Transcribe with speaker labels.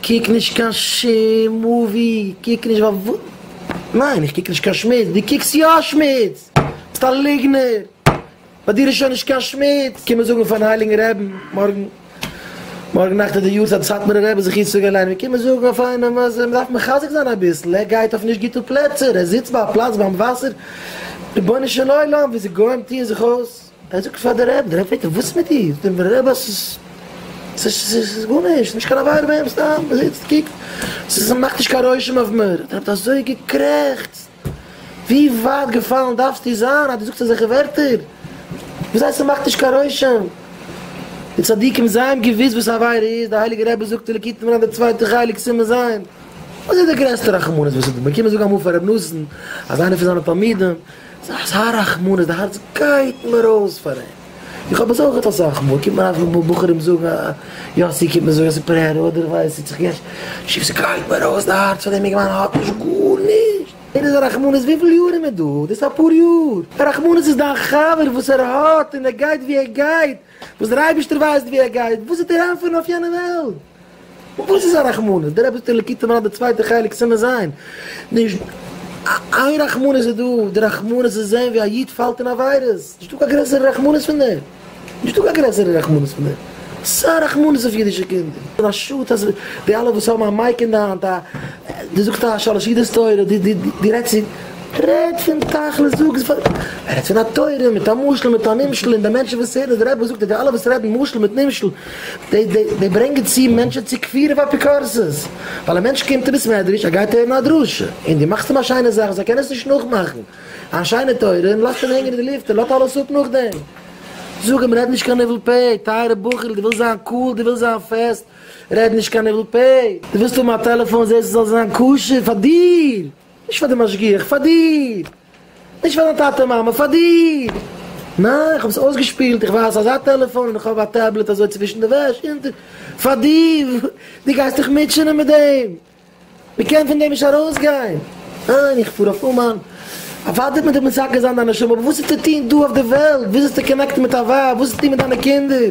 Speaker 1: קוק נישט קיין שום מאווי, קוק נישט ווייל ווא. ניין איך קוק נישט קיין שמוץ, דו קוקסט יא שמוץ! ביסט א ליגנער! ביי דיר איז שוין נישט קיין שמוץ! קומען זאגן פארן הייליגן רעבן מארגן, מארגן נאכט איז די יארצייט פון סאטמארער רבי זכותו יגן עלינו, מיר קומען זאגן אויף איינעם אז מען דארף מחזק זיין אביסל, ער גייט אויף נישט גוטע פלעצער, ער זיצט ביי א פלאץ ביים וואסער, רבונו של עולם, ווי די גוים טוען זיך אויס. ער זאגט פאר די רב, די רב פרעגט אים וואס איז מיט דיר? זאגט אים דער רב אז ס'איז ס'איז גארנישט, ס'איז נישט קיין עבירה ביי אים, סתם ער זיצט קוקט, ס'איז מאכט נישט קיין רושם אויף מיר, האט דער רב אזוי געקרעכצט, ווי ווייט געפאלן דארפסטו זיין אז דו זאגסט אזעלכע ווערטער, וויאזוי ס'מאכט נישט קיין רושם? די צדיקים זענען געוויס וואס א עבירה איז, דער הייליגער רבי זאגט אין ליקוטי מוהר ן די צווייטע חלק סימן ז', וואס איז די גרעסטע רחמנות וואס ס'איז דא, מיר קומען זאגן אמאל פאר ר' נתן אז איינער פון זיינע תלמידים ס'איז אזא רחמנות, די הארץ גייט מיר אויס פאר אים, איך האב עס אויך געהאט אסאך מאל, קומט מיר אסאך מאל בחורים זאגן א יאסי קומט מיר זאגן עס איז פרעה'לע אדער ווייס איך צו געשט שוב ס'גייט מיר אויס די הארץ פאר דעם אינגערמאן האט נישט גארנישט ער איז א רחמנות וויפיל יאר איז מען דא דאס איז אפאר יאר א רחמנות איז דיין חבר וואס ער האט און ער גייט ווי ער גייט וואס דער אייבערשטער ווייסט ווי ער גייט וואס איז דער ענפער אויף יענע וועלט. וואס איז א רחמנות? דער אבות אלוקי טעם רע די צווייטע חלק סימן ז', נישט איין רחמנות איז דא, די רחמנות צו זען ווי א איד פאלט אין עבירות, נישטא קיין גרעסערע רחמנות פון דעם, נישטא קיין גרעסערע רחמנות פון דעם, סא רחמנות אויף אידישע קינדער, און א שאד אז די אלע וואס האבן א מייק אין די האנט, די זאגסט א שלש עדות תורה, די רעדסט צו, רעד פון תכלית, זאג עס פאר, רעד פון א תורה מיט א משל מיט א נמשל און די מענטשן וואס הערן אז דער אבות זאגט אז די אלע וואס רעדן משל מיט נמשל די ברענגען צו מענטשען צו כפירה ואפיקורסות, ווייל א מענטש קומט אין בית מדרש, ער גייט הערן א דרשה, און דו מאכסט אים א שיינע זאך, זיי קענען עס נישט נאכמאכן, א שיינע תורה, און לאזט אים הענגען אין די לופט, און לאט אלעס אפ נאכדעם. זאג אים, רעד נישט קיין ניבול פה, טייערע בחור'ל, דו ווילסט זיין קאול, דו ווילסט זיין פעסט, רעד נישט קיין ניבול פה, דו ווילסט האבן א טעלעפאן, זע עס זאל זיין כשר פאר דיר! נישט פאר די משגיח, פאר דיר! נישט פאר דיין טאטע מאמע, פאר דיר! ניין, איך האב עס אויסגעשפילט, איך ווייס אזא טעלעפאן און איך האב א טעבלעט אזוי צווישן די וועש און די. פאר דיר! דו גייסט דיך מוטשענען מיט דעם! מען קען פון דעם נישט ארויסגיין! ניין, איך פאר אויף אומאן! אוודאי מען טאר מסכן זיין דיין נשמה, אבער וואס איז צו טון דא אויף די וועלט? ווי זאלסטו קאנעקטן מיט א ווייב? וואס איז צו טון מיט דיינע קינדער?